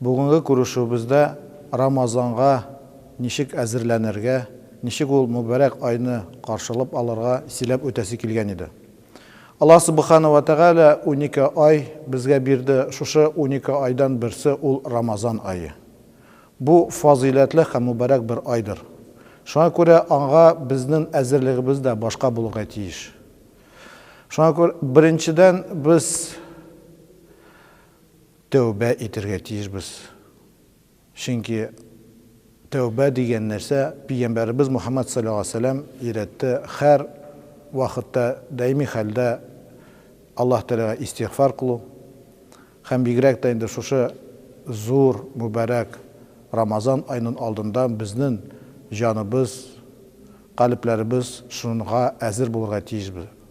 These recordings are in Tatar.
Бүгенге күрешүебездә Рамазанга ничек әзерләнергә, ничек ул мөбарәк айны каршылап алырга сөйләп үтәсе килгән иде. Аллаһ Субхана вә Тәгалә унике ай безгә бирде, шушы унике айдан берсе ул Рамазан ае. Бу фазыйләтле һәм мөбарәк бер айдыр. Шуңа күрә аңа безнен әзерлегебез дә башка булырга тиеш. Шуңа күрә беренчедән без Тәүбә итәргә тиешбез. Чөнки тәүбә дигән нәрсә Пигамбәребез Мухаммәд салләллаһу галәйһи ва сәлләм өйрәтте, һәр вакытта, даими хәлдә Аллаһ Тәгаләгә истигъфар кылу һәм бигрәк тә инде шушы зур, мөбарәк Рамазан аенын алдында безнен җаныбыз, калебләребез шунга әзер булырга тиешбез.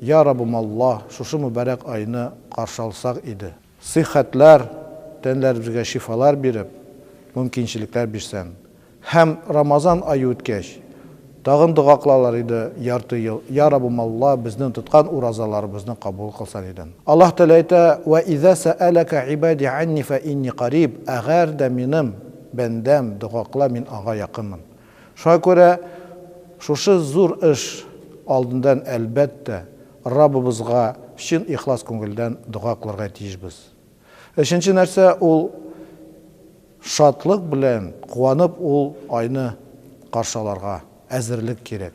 Я Раббым Аллаһ, шушы мөбарәк айны каршы алсак иде. Сыйхәтләр, тәнләребезгә шифалар биреп, мөмкинчелекләр бирсәң. Һәм Рамазан ае үткәч, тагын дога кылалар иде ярты ел, Я Раббым Аллаһ, безнең тоткан уразаларыбызны кабул кылсаң иде. Аллаһ Тәгалә әйтә, Вә иза сәәләкә ибади анни фә инни кариб, әгәр дә минем бәндәм дога кыла, мин аңа якынмын. Шуңа күрә шушы зур эш алдындан, әлбәттә, Раббыбызга чын ихлас күңелдән дога кылырга тиешбез. Өченче нәрсә, ул шатлык белән, куанып ул айны каршы алырга әзерлек кирәк.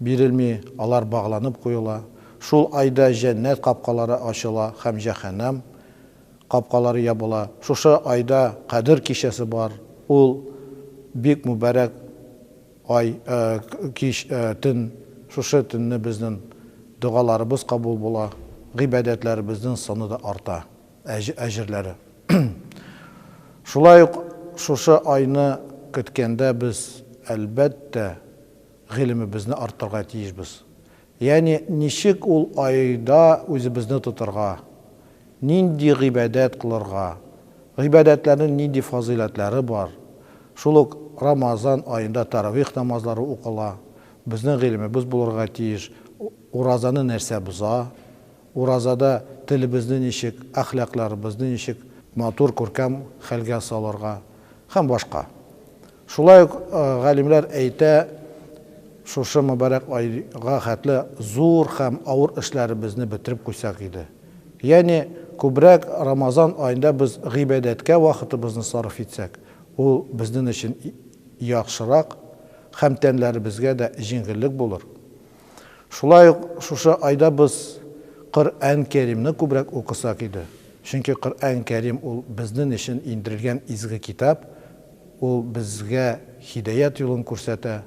Бирелми, алар багланып куела. Шул айда җәннәт капкалары ачыла һәм җәһәннәм капкалары ябыла. Шушы айда Кадер кичәсе бар, ул бик мүбәрәк ай, кич, төн. Шушы төнне безнен догаларыбыз кабул була, гыйбадәтләребезнен саны да арта, әҗерләре. Шулай ук шушы айны көткәндә без, әлбәттә, Гыйлемебезне арттырырга тиешбез. Ягъни, ничек ул айда үзебезне тотарга, нинди гыйбадәт кылырга, гыйбадәтләрнең нинди фазыйләтләре бар, шул ук Рамазан аенда тәравих намазлары укыла, безнең гыйлемебез булырга тиеш, уразаны нәрсә боза, уразада телебезне ничек, әхлакларыбызны ничек матур, күркәм хәлгә салырга һәм башка. Шулай ук галимнәр әйтә, шушы мөбарәк айга хәтле зур һәм авыр эшләребезне бетереп куйсак иде. Ягъни, күбрәк Рамазан аенда без гыйбадәткә вакытыбызны сарыф итсәк, ул безнен өчен яхшырак һәм тәннәребезгә дә җиңеллек булыр. Шулай ук шушы айда без Коръән Кәримне күбрәк укысак иде, чөнки Коръән Кәрим ул безнен өчен индерелгән изге китап, Ул безгә һидаять юлын күрсәтә,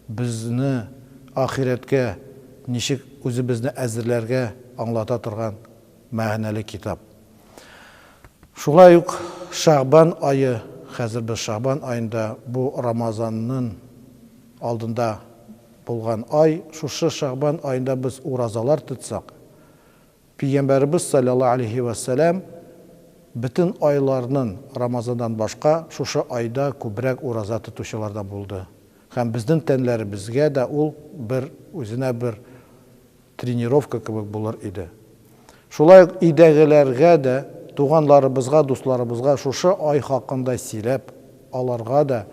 безне ахирәткә ничек үзебезне әзерләргә аңлата торган мәгънәле китап. Шулай ук Шәгъбан ае, хәзер без Шәгъбан аенда, бу Рамазаннын алдында булган ай, шушы Шәгъбан аенда без уразалар тотсак, Пигамбәребез салләллаһу алейһи вә сәлам бөтен айларнын Рамазаннан башка шушы айда күбрәк ураза тотучылардан булды һәм безнен тәнләребезгә дә ул бер үзенә бер тренировка кебек булыр иде. Шулай ук өйдәгеләргә дә, туганларыбызга, дусларыбызга шушы ай хакында сөйләп, аларга да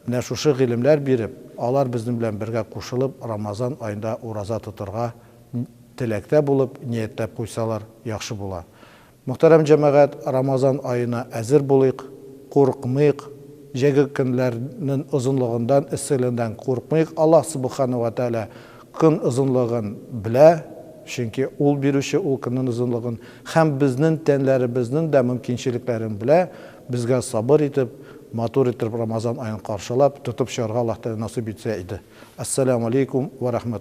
менә шушы гыйлемләр биреп, алар безнен белән бергә кушылып Рамазан айнда ураза тотырга теләктә булып, ниятләп куйсалар, яхшы була. Мөхтәрәм җәмәгать, Рамазан аена әзер булыйк, курыкмыйк, җәйге көннәрнен озынлыгындан, эсселендән курыкмыйк, Аллаһ Субхана вә Тәгалә көн озынлыгын белә, чөнки Ул бирүче ул көннен озынлыгын, һәм безнен тәнләребезнен дә мөмкинчелекләрен белә, безгә сабыр итеп, матур иттереп Рамазан аен каршылап, тотып чыгарга Аллаһ Тәгалә насыйп итсә иде. Әссәләмү алейкүм вә рәхмәт.